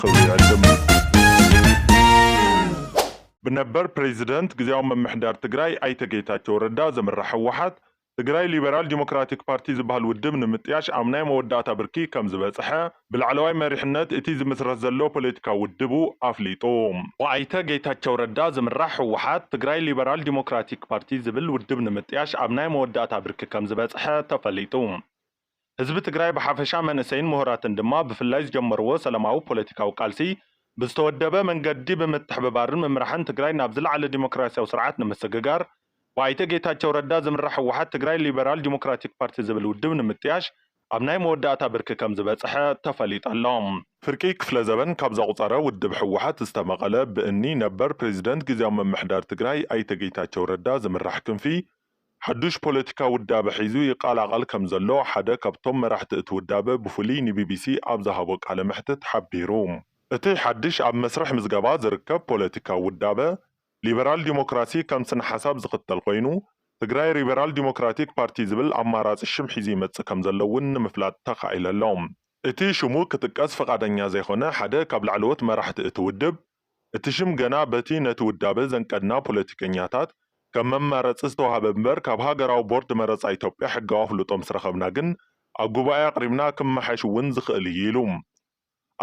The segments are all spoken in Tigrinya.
ክብሪ ይዕድም። ብነበር ፕሬዚደንት ግዝያዊ ምምሕዳር ትግራይ ኣይተ ጌታቸው ረዳ ዝምራሕ ህወሓት፣ ትግራይ ሊበራል ዲሞክራቲክ ፓርቲ ዝበሃል ውድብ ንምጥያሽ ኣብ ናይ መወዳእታ ብርኪ ከምዝበፅሐ ብላዕለዋይ መሪሕነት እቲ ዝምስረት ዘሎ ፖለቲካዊ ውድቡ ኣፍሊጡ። ብኣይተ ጌታቸው ረዳ ዝምራሕ ህወሓት፣ ትግራይ ሊበራል ዲሞክራቲክ ፓርቲ ዝብል ውድብ ንምጥያሽ ኣብ ናይ መወዳእታ ብርኪ ከምዝበፅሐ ተፈሊጡ። ህዝቢ ትግራይ ብሓፈሻ መንእሰይን ምሁራትን ድማ ብፍላይ ዝጀመርዎ ሰላማዊ ፖለቲካዊ ቃልሲ ብዝተወደበ መንገዲ ብምትሕብባርን ምምራሕን ትግራይ ናብ ዝለዓለ ዲሞክራሲያዊ ስርዓት ንምስግጋር ብኣይተ ጌታቸው ረዳ ዝምራሕ ህወሓት ትግራይ ሊበራል ዲሞክራቲክ ፓርቲ ዝብል ውድብ ንምጥያሽ ኣብ ናይ መወዳእታ ብርኪ ከምዝበፀሐ ተፈሊጡ ኣሎ። ፍርቂ ክፍለ ዘበን ካብ ዘቑፀረ ውድብ ህወሓት ዝተመቐለ ብእኒ ነበር ፕሬዚደንት ጊዚያዊ ምምሕዳር ትግራይ ኣይተ ጌታቸው ረዳ ዝምራሕ ክንፊ ሓዱሽ ፖለቲካ ውዳበ ሒዙ ይቐላቐል ከምዘሎ ሓደ ካብቶም መራሕቲ እቲ ውዳበ ብፍሉይ ንቢቢሲ ኣብ ዝሃቦ ቃለ መሕትት ሓቢሩ። እቲ ሓድሽ ኣብ መስርሕ ምዝገባ ዝርከብ ፖለቲካዊ ውዳበ፣ ሊበራል ዲሞክራሲ ከም ስነ-ሓሳብ ዝኽተል ኮይኑ፣ ትግራይ ሪበራል ዲሞክራቲክ ፓርቲ ዝብል ኣማራጺ ሽም ሒዙ ይመጽእ ከምዘሎ'ውን ንምፍላጥ ተኻኢለ'ሎ። እቲ ሽሙ ክጥቀስ ፍቓደኛ ዘይኮነ ሓደ ካብ ላዕለዎት መራሕቲ እቲ ውድብ፣ እቲ ሽም ገና በቲ ነቲ ውዳበ ዘንቀድና ፖለቲከኛታት ከም መማረፂ ዝተውሃበ እምበር ካብ ሃገራዊ ቦርድ መረፃ ኢትዮጵያ ሕጋዊ ኣፍልጦ ምስ ረኸብና ግን ኣብ ጉባኤ ኣቕሪብና ክመሓሽ እውን ዝኽእል እዩ ኢሉ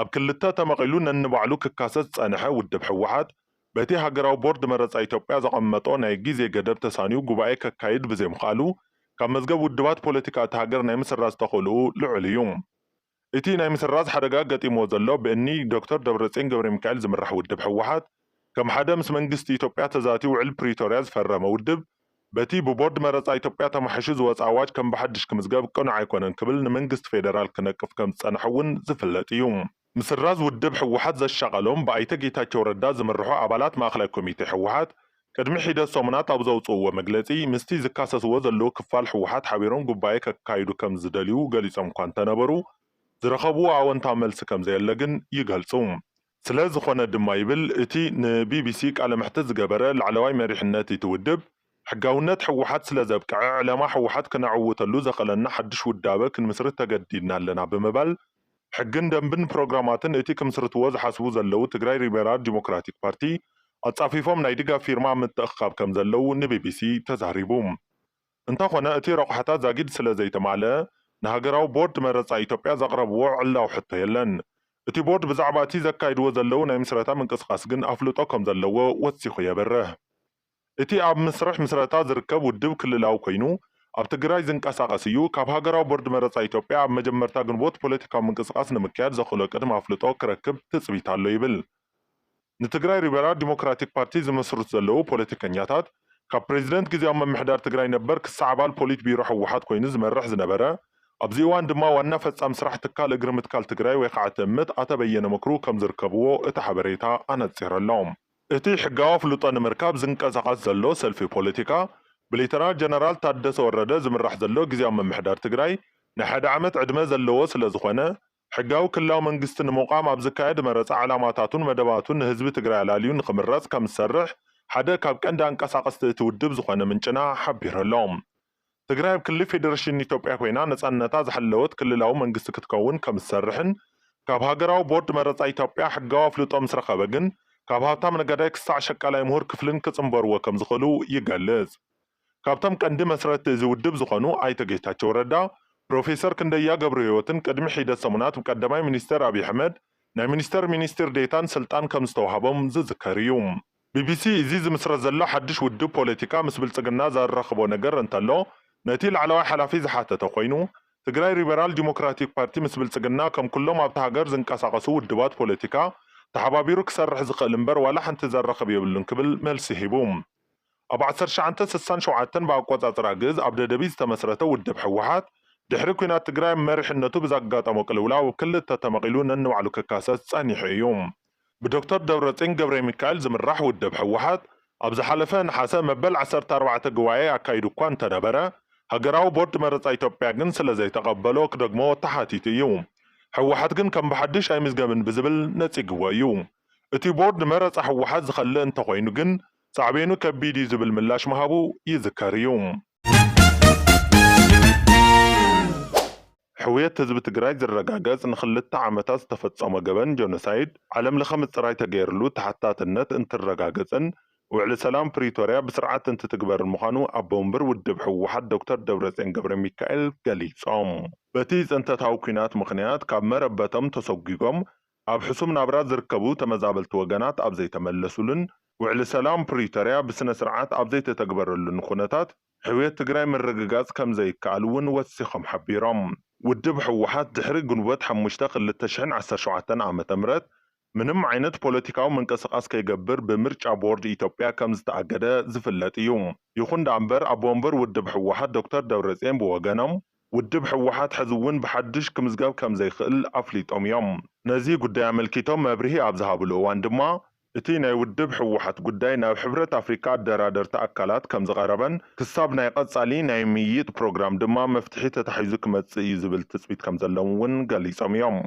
ኣብ ክልተ ተመቒሉ ነንባዕሉ ክካሰስ ዝፀንሐ ውድብ ህወሓት በቲ ሃገራዊ ቦርድ መረፃ ኢትዮጵያ ዘቐመጦ ናይ ግዜ ገደብ ተሳንዩ ጉባኤ ከካይድ ብዘይምኽኣሉ ካብ መዝገብ ውድባት ፖለቲካ እታ ሃገር ናይ ምስራዝ ተኽእልኡ ልዑል እዩ። እቲ ናይ ምስራዝ ሓደጋ ገጢምዎ ዘሎ ብእኒ ዶክተር ደብረፅዮን ገብረሚካኤል ዝምራሕ ውድብ ህወሓት ከም ሓደ ምስ መንግስቲ ኢትዮጵያ ተዛትዩ ውዕል ፕሪቶርያ ዝፈረመ ውድብ በቲ ብቦርድ መረፃ ኢትዮጵያ ተማሕይሹ ዝወፀ ኣዋጅ ከም ብሓድሽ ክምዝገብ ቅኑዕ ኣይኮነን ክብል ንመንግስቲ ፌደራል ክነቅፍ ከምዝፀንሐ እውን ዝፍለጥ እዩ። ምስራዝ ውድብ ህወሓት ዘሻቐሎም ብኣይተ ጌታቸው ረዳ ዝምርሑ ኣባላት ማእኸላይ ኮሚቴ ህወሓት ቅድሚ ሒደት ሰሙናት ኣብ ዘውጽእዎ መግለጺ፣ ምስቲ ዝካሰስዎ ዘለዉ ክፋል ህወሓት ሓቢሮም ጉባኤ ከካይዱ ከም ዝደልዩ ገሊጾም'ኳ እንተነበሩ፣ ዝረኸብዎ ኣወንታዊ መልሲ ከም ዘየለ ግን ይገልጹ። ስለ ዝኾነ ድማ ይብል እቲ ንቢቢሲ ቃለ መሕትት ዝገበረ ላዕለዋይ መሪሕነት'ቲ ውድብ፣ ሕጋውነት ህወሓት ስለ ዘብቅዐ፣ ዕላማ ህወሓት ክነዕውተሉ ዘኽእለና ሓድሽ ውዳበ ክንምስርት ተገዲድና ኣለና ብምባል፣ ሕግን ደንብን ፕሮግራማትን እቲ ክምስርትዎ ዝሓስቡ ዘለው ትግራይ ሪበራል ዲሞክራቲክ ፓርቲ ኣጻፊፎም ናይ ድጋፍ ፊርማ ኣብ ምትእኽኻብ ከም ዘለው ንቢቢሲ ተዛሪቡ። እንተኾነ እቲ ረቑሓታት ዛጊድ ስለ ዘይተማልኣ ንሃገራዊ ቦርድ መረጻ ኢትዮጵያ ዘቕረብዎ ዕላዊ ሕቶ የለን። እቲ ቦርድ ብዛዕባ እቲ ዘካይድዎ ዘለው ናይ ምስረታ ምንቅስቓስ ግን ኣፍልጦ ከም ዘለዎ ወሲኹ የብርህ። እቲ ኣብ ምስርሕ ምስረታ ዝርከብ ውድብ ክልላዊ ኮይኑ ኣብ ትግራይ ዝንቀሳቐስ እዩ። ካብ ሃገራዊ ቦርድ መረፃ ኢትዮጵያ ኣብ መጀመርታ ግንቦት ፖለቲካዊ ምንቅስቓስ ንምክያድ ዘኽእሎ ቅድመ ኣፍልጦ ክረክብ ትፅቢት ኣሎ ይብል። ንትግራይ ሪበራል ዲሞክራቲክ ፓርቲ ዝምስርቱ ዘለዉ ፖለቲከኛታት ካብ ፕሬዚደንት ግዝያዊ ምምሕዳር ትግራይ ነበር ክሳዕ ኣባል ፖሊት ቢሮ ህወሓት ኮይኑ ዝመርሕ ዝነበረ ኣብዚ እዋን ድማ ዋና ፈፃሚ ስራሕ ትካል እግሪ ምትካል ትግራይ ወይ ከዓ ትእምት ኣቶ በየነ ምክሩ ከምዝርከብዎ እቲ ሓበሬታ ኣነፂሩ ኣሎ። እቲ ሕጋዊ ኣፍልጦ ንምርካብ ዝንቀሳቐስ ዘሎ ሰልፊ ፖለቲካ፣ ብሌተናል ጀነራል ታደሰ ወረደ ዝምራሕ ዘሎ ግዝያዊ ምምሕዳር ትግራይ ናይ ሓደ ዓመት ዕድመ ዘለዎ ስለዝኾነ፣ ሕጋዊ ክልላዊ መንግስቲ ንምቛም ኣብ ዝካየድ መረፃ ዕላማታቱን መደባቱን ንህዝቢ ትግራይ ኣላልዩ ንኽምረፅ ከምዝሰርሕ ሓደ ካብ ቀንዲ ኣንቀሳቐስቲ እቲ ውድብ ዝኾነ ምንጭና ሓቢሩ'ሎ። ትግራይ ኣብ ክሊ ፌደረሽን ኢትዮጵያ ኮይና ነፃነታ ዝሓለወት ክልላዊ መንግስቲ ክትከውን ከምዝሰርሕን ካብ ሃገራዊ ቦርድ መረፃ ኢትዮጵያ ሕጋዊ ኣፍልጦ ምስረኸበ ግን ካብ ሃብታም ነጋዳይ ክሳዕ ሸቃላይ ምሁር ክፍልን ክፅምበርዎ ከምዝኽእሉ ይገልፅ። ካብቶም ቀንዲ መስረትቲ እዚ ውድብ ዝኾኑ ኣይተ ጌታቸው ረዳ፣ ፕሮፌሰር ክንደያ ገብረህይወትን ቅድሚ ሒደት ሰሙናት ብቀዳማይ ሚኒስትር ኣብይ ኣሕመድ ናይ ሚኒስትር ሚኒስትር ዴታን ስልጣን ከምዝተውሃቦም ዝዝከር እዩ። ቢቢሲ፣ እዚ ዝምስረት ዘሎ ሓድሽ ውድብ ፖለቲካ ምስ ብልጽግና ዘራኽቦ ነገር እንተሎ ነቲ ላዕለዋይ ሓላፊ ዝሓተተ ኮይኑ፣ ትግራይ ሪበራል ዲሞክራቲክ ፓርቲ ምስ ብልጽግና ከም ኩሎም ኣብታ ሃገር ዝንቀሳቐሱ ውድባት ፖለቲካ ተሓባቢሩ ክሰርሕ ዝኽእል እምበር ዋላ ሓንቲ ዘራኽብ የብሉን ክብል መልሲ ሂቡ። ኣብ ዓሰርተ ትሽዓተ ስሳን ሸውዓተን ብኣቆጻጽራ ግእዝ ኣብ ደደቢት ዝተመስረተ ውድብ ህወሓት፣ ድሕሪ ኲናት ትግራይ ኣብ መሪሕነቱ ብዘጋጠሞ ቅልውላው ኣብ ክልተ ተመቒሉ ነንባዕሉ ክካሰስ ጸኒሑ እዩ። ብዶክተር ደብረጽዮን ገብረሚካኤል ዝምራሕ ውድብ ህወሓት ኣብ ዝሓለፈ ነሓሰ መበል ዓሰርተ ኣርባዕተ ጉባኤ ኣካይዱ እኳ እንተነበረ፣ ሃገራዊ ቦርድ መረጻ ኢትዮጵያ ግን ስለዘይተቐበሎ ክደግሞ ተሓቲቱ እዩ። ህወሓት ግን ከም ብሓድሽ ኣይምዝገብን ብዝብል ነጺግዎ እዩ። እቲ ቦርድ ንመረጻ ህወሓት ዝኸልእ እንተኾይኑ ግን ሳዕቤኑ ከቢድ እዩ ዝብል ምላሽ ምሃቡ ይዝከር እዩ። ሕውየት ህዝቢ ትግራይ ዝረጋገፅ ንክልተ ዓመታት ዝተፈፀሞ ገበን ጆኖሳይድ ዓለም ለኸ ምፅራይ ተገይርሉ ተሓታትነት እንትረጋገፅን ውዕሊ ሰላም ፕሪቶሪያ ብስርዓት እንትትግበርን ምዃኑ ኣቦ ወንበር ውድብ ህወሓት ዶክተር ደብረፅዮን ገብረሚካኤል ገሊፆም። በቲ ፅንተታዊ ኲናት ምኽንያት ካብ መረበቶም ተሰጒጎም ኣብ ሕሱም ናብራ ዝርከቡ ተመዛበልቲ ወገናት ኣብ ዘይተመለሱሉን ውዕሊ ሰላም ፕሪቶሪያ ብስነ ስርዓት ኣብ ዘይተተግበረሉን ኹነታት፣ ዕብየት ትግራይ ምርግጋፅ ከምዘይከኣል እውን ወሲኾም ሓቢሮም። ውድብ ህወሓት ድሕሪ ግንቦት ሓሙሽተ ክልተ ሽሕን ዓሰርተ ሸውዓተን ዓመተ ምህረት ምንም ዓይነት ፖለቲካዊ ምንቅስቓስ ከይገብር ብምርጫ ቦርድ ኢትዮጵያ ከምዝተኣገደ ዝፍለጥ እዩ። ይኹን ደኣ እምበር ኣቦ ወንበር ውድብ ህወሓት ዶክተር ደብረፅዮን ብወገኖም ውድብ ህወሓት ሕዚ እውን ብሓዱሽ ክምዝገብ ከምዘይኽእል ኣፍሊጦም እዮም። ነዚ ጉዳይ ኣመልኪቶም መብርሂ ኣብ ዝሃብሉ እዋን ድማ እቲ ናይ ውድብ ህወሓት ጉዳይ ናብ ሕብረት ኣፍሪካ ኣደራደርቲ ኣካላት ከምዝቐረበን ክሳብ ናይ ቐፃሊ ናይ ምይይጥ ፕሮግራም ድማ መፍትሒ ተታሒዙ ክመፅእ እዩ ዝብል ትፅቢት ከምዘለም'ውን ገሊፆም እዮም።